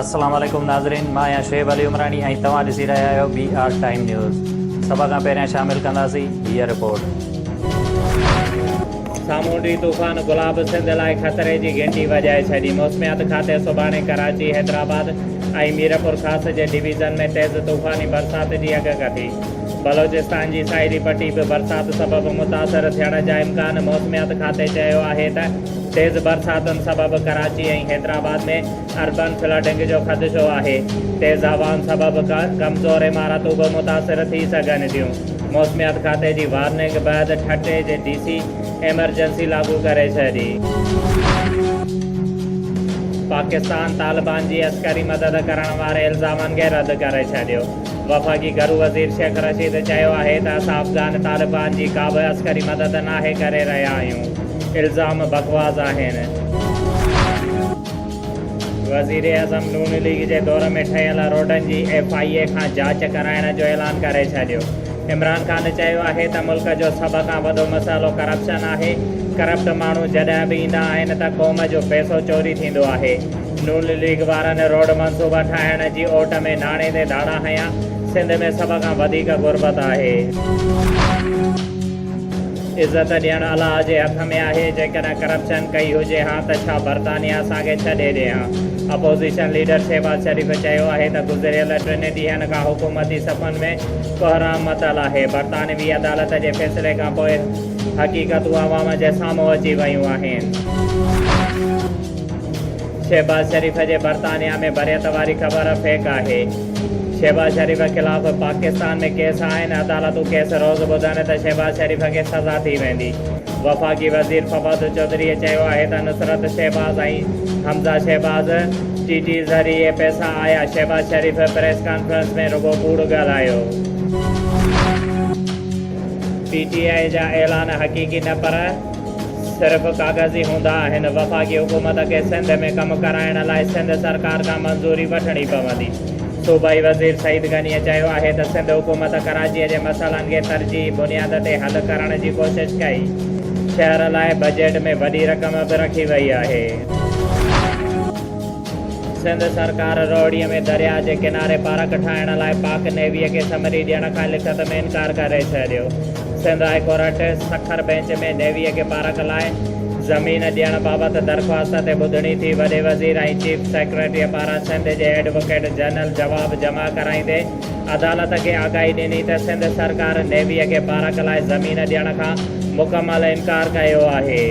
السلام عليڪم ناظرين مان آهيان شعيب علي عمراڻي ۽ توهان ڏسي رهيا آهيو بي آر ٽائيم نيوز سڀ کان پهريان شامل ڪنداسين هيء رپورٽ سامونڊي طوفان گلاب سنڌ لاء خطري جي گهنٽي وڄائي ڇڏي موسميات کاتي سڀاڻي ڪراچي حيدرآباد ۽ ميرپور خاص جي ڊويزن ۾ تيز طوفاني برسات جي اڳڪٿي بلوچستان جي ساحلي پٽي به برسات سبب متاثر ٿيڻ جا امڪان موسميات کاتي چيو آهي ته تيز برساتن سبب ڪراچي ۽ حيدرآباد ۾ اربن فلڊنگ جو خدشو آهي تيز هوائن سبب ڪمزور عمارتون به متاثر ٿي سگهن ٿيون موسميات کاتي جي وارننگ بعد ٺٽي جي ڊي سي ايمرجنسي لاڳو ڪري ڇڏي. پاڪستان طالبان جي عسڪري مدد ڪرڻ واري الزامن کي رد ڪري ڇڏيو. وفاقي گهرو وزير شيخ رشيد چيو آهي ته اسان افغان طالبان جي ڪابه عسڪري مدد ناهي ڪري رهيا آهيون، الزام بڪواس آهن. وزيراعظم نون ليگ جي دور ۾ ٺهيل روڊن جي ايف آء اي کان جاچ ڪرائڻ جو اعلان ڪري ڇڏيو، عمران خان چيو آهي ته ملڪ جو سڀ کان وڏو مسئلو ڪرپشن آهي، ڪرپٽ ماڻهو جڏهن به ايندا آهن ته قوم جو پئسو چوري ٿيندو آهي. نون ليگ وارن روڊ منصوبا ٺاهڻ جي اوٽ ۾ ناڻي تي ڌاڙا هنيا، سنڌ ۾ سڀ کان وڌيڪ غربت آهي. عزت ڏيڻ الله جي هٿ ۾ آهي، جيڪڏهن ڪرپشن ڪئي هجي ها ته ڇا برطانيا اسان کي ڇڏي ڏي ها؟ اپوزيشن ليڊر شهباز شريف چيو آهي ته گذريل ٽن ڏينهن کان حڪومتي صفن ۾ ڪوهرام متل آهي، برطانوي عدالت جي فيصلي کانپوء حقيقتون عوام جي سامهون اچي ويون آهن. شهباز شريف جي برطانيا ۾ بريت واري خبر فيڪ آهي، شهباز شريف خلاف پاڪستان ۾ ڪيس آهن، عدالتون ڪيس روز ٻڌن ته شهباز شريف کي سزا ٿي ويندي، وفاقي وزير فواد چوڌريء چيو آهي ته نصرت شهباز ۽ حمزه شهباز ٽي ٽي ذريعي پئسا آيا، شهباز شريف پريس ڪانفرنس ۾ رڳو ڪوڙ ڳالهايو. پي ٽي آء جا اعلان حقيقي نه پر صرف ڪاغذي هوندا آهن، وفاقي حڪومت کي سنڌ ۾ ڪم ڪرائڻ لاء سنڌ سرڪار کان منظوري وٺڻي پوندي. صوبائي وزير سعيد غنيء چيو آهي ته سنڌ حڪومت ڪراچيء جي مسئلن کي ترجيحي بنياد تي حل ڪرڻ جي ڪوشش ڪئي، شهر لاء بجيٽ ۾ وڏي رقم به رکي وئي آهي. سنڌ سرڪار روهڙي ۾ درياهه جي ڪناري پارڪ ٺاهڻ لاء پاڪ نيويء کي سمري ڏيڻ کان لکت ۾ انڪار ڪري ڇڏيو. Sindh high court Sukkur bench ۾ نيويء کي پارڪ لاء زمين ڏيڻ بابت درخواست تي ٻڌڻي ٿي. وڏي وزير ۽ چيف سيڪريٽريء پاران سنڌ جي ايڊووڪيٽ جنرل جواب جمع ڪرائيندي عدالت کي آگاهي ڏني ته سنڌ سرڪار نيويء کي پارڪ لاء زمين ڏيڻ کان مڪمل انڪار ڪيو آهي.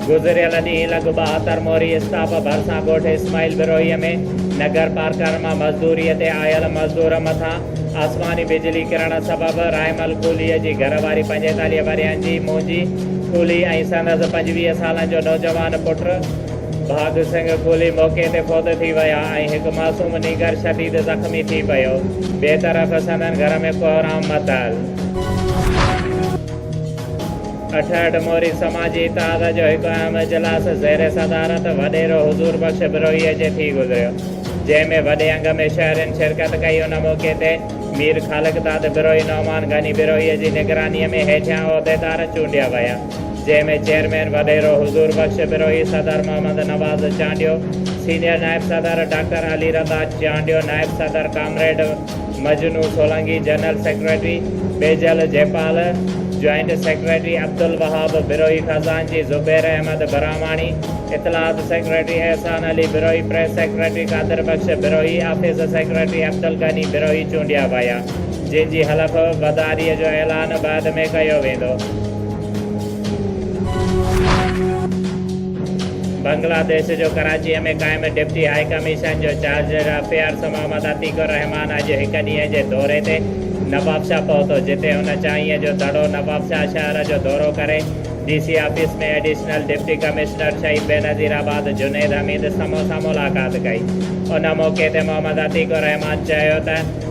گذريل ڏينهن لڳ ٻهاتر موري اسٽاپ ڀرسان ڳوٺ اسماعيل بروهيء ۾ نگر پارڪر مان مزدوريء تي آيل مزدور مٿان آسماني بجلي ڪرڻ سبب رائمل ڪولهيء جي گهر واري پنجيتاليهه ورهين جي موجي ڪولهي ۽ سندس پنجويهه سالن جو نوجوان پٽ ڀاڳ سنگهه ڪولهي موقعي تي فوت ٿي ويا ۽ هڪ معصوم نينگر شديد زخمي ٿي پيو. ٻئي طرف سندن گهر ۾ ڪوهرام متل. اٺهٺ موري سماجي اتحاد جو هڪ اهم اجلاس زير صدارت وڏيرو حضور بخش بروهيء جي ٿي گذريو، جنهن ۾ وڏي انگ ۾ شهرين شرڪت ڪئي، ان موقعي تي مير خالقداد بروهي، نعمان غني بروهيء جي نگرانيء ۾ هيٺيان عهديدار چونڊيا ويا، جنهن ۾ چيئرمين وڏيرو حضور بخش بروهي، صدر محمد نواز چانڊيو، سينيئر نائب صدر ڊاڪٽر علي رضا چانڊيو، نائب صدر comrade. Majnu Solangi general secretary, Bijal Jaipal, joint secretary Abdulwahab Brohi خزانچي زبير احمد براهماڻي، اطلاعات secretary Ahsan Ali Brohi, press secretary Qadir Bakhsh Brohi, office secretary Abdulghani Brohi چونڊيا ويا جن جي حلف بداري جو اعلان بعد ۾ ڪيو ويندو. بنگلاديش جو ڪراچيء ۾ قائم ڊپٽي هاء ڪميشن جو چارجر افيئرز محمد عتيق الرحمان اڄ هڪ ڏينهن جي دوري تي نوابشاهه پهتو جتي هن چانهيء جو دڙو نوابشاهه شهر جو دورو ڪري D C office ۾ additional deputy commissioner Shaheed Benazir آباد جنيد حميد سمون سان ملاقات ڪئي ان موقعي تي محمد عتيق الرحمان چيو ته